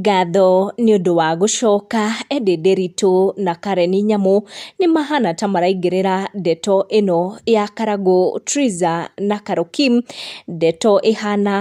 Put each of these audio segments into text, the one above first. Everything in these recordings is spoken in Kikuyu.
Ngatho nĩ ũndũ wa gũcoka, Eddy Nderitu na Karen Nyamu, nĩ mahana ta maraingĩrĩra ndeto ĩno ya Karangũ Triza na Carol Kim, ndeto ĩhana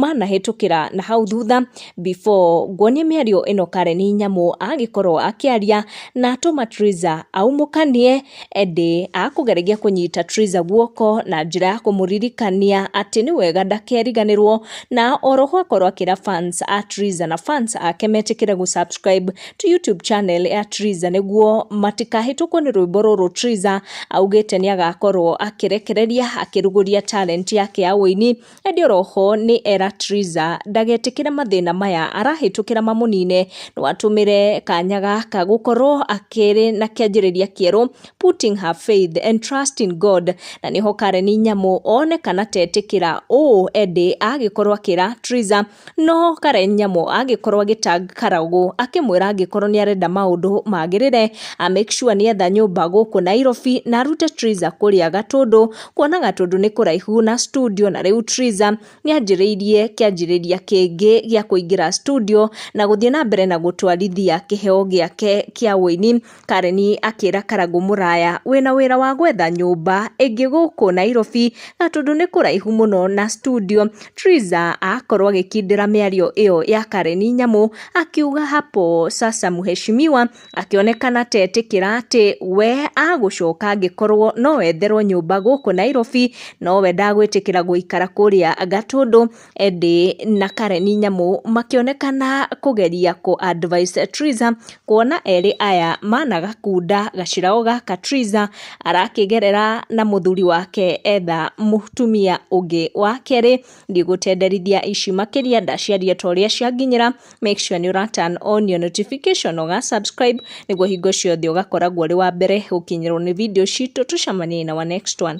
manahĩtũkĩra na hau thutha before nguonie mĩario ĩno Karen Nyamu agĩkorwo akĩaria na atũma Triza aumũkanie. Ĩndĩ akũgeragia kũnyita Triza guoko na njĩra ya kũmũririkania atĩ nĩ wega ndakeriganĩrwo na oroho akorwo akĩra fans a Triza na fans ake metĩkĩre gũ subscribe to YouTube channel ya Triza nĩguo matikahĩtũkwo nĩ rwĩmbo rũrũ Triza augĩte nĩ agakorwo akĩrekereria akĩrugũria talent yake ya ũini Ĩndĩ oro ho nĩ era Triza ndagetĩkĩre mathĩna maya arahĩtũkĩra mamũnine, no atũmĩre kanya gaka gũkorwo akĩrĩ na kĩanjĩrĩria kĩerũ, putting her faith and trust in God. Na nĩho Karen Nyamu one kana tetĩkĩra ũũ ĩndĩ agĩkorwo akĩra Triza No Karen Nyamũ angĩkorwo agĩtag Karau akĩmwĩra angĩkorwo nĩ arenda maũndũ magĩrĩre a make sure nĩ etha nyũmba gũkũ Nairobi na arute Triza kũrĩa Gatũndũ kuona Gatũndũ nĩ kũraihu na studio na rĩu Triza nĩ anjĩrĩirie kĩanjĩrĩria kĩngĩ gĩa kũingĩra studio na gũthiĩ na mbere na gũtwarithia kĩheo gĩake kĩa ũini Karen akĩra Karangũ mũraya wĩna wĩra wa gwetha nyũmba ĩngĩ gũkũ Nairobi na tondũ nĩ kũraihu mũno na studio. Triza akorwo agĩkindĩra mĩario ĩyo ya Karen nyamũ akiuga hapo sasa mheshimiwa akĩonekana ta etĩkĩra atĩ we agũcoka angĩkorwo no etherwo nyũmba gũkũ Nairobi nowe ndagwĩtĩkĩra gũikara kũrĩa Gatũndũ. Eddie na Karen Nyamũ makĩonekana kũgeria kũ advise Triza kuona erĩ aya managakunda gaciraũ gaka Triza arakĩgerera na mũthuri wake etha mũtumia ũngĩ wa kerĩ ndigũtenderithia ici makĩria ndaciaria ta ũrĩa cianginyĩra make sure nĩ ũra turn on your notification ũga subscribe nĩguo hingo ciothe ũgakoragwo ũrĩ wa mbere gũkinyĩrwo nĩ video citũ tũcemanie na our next one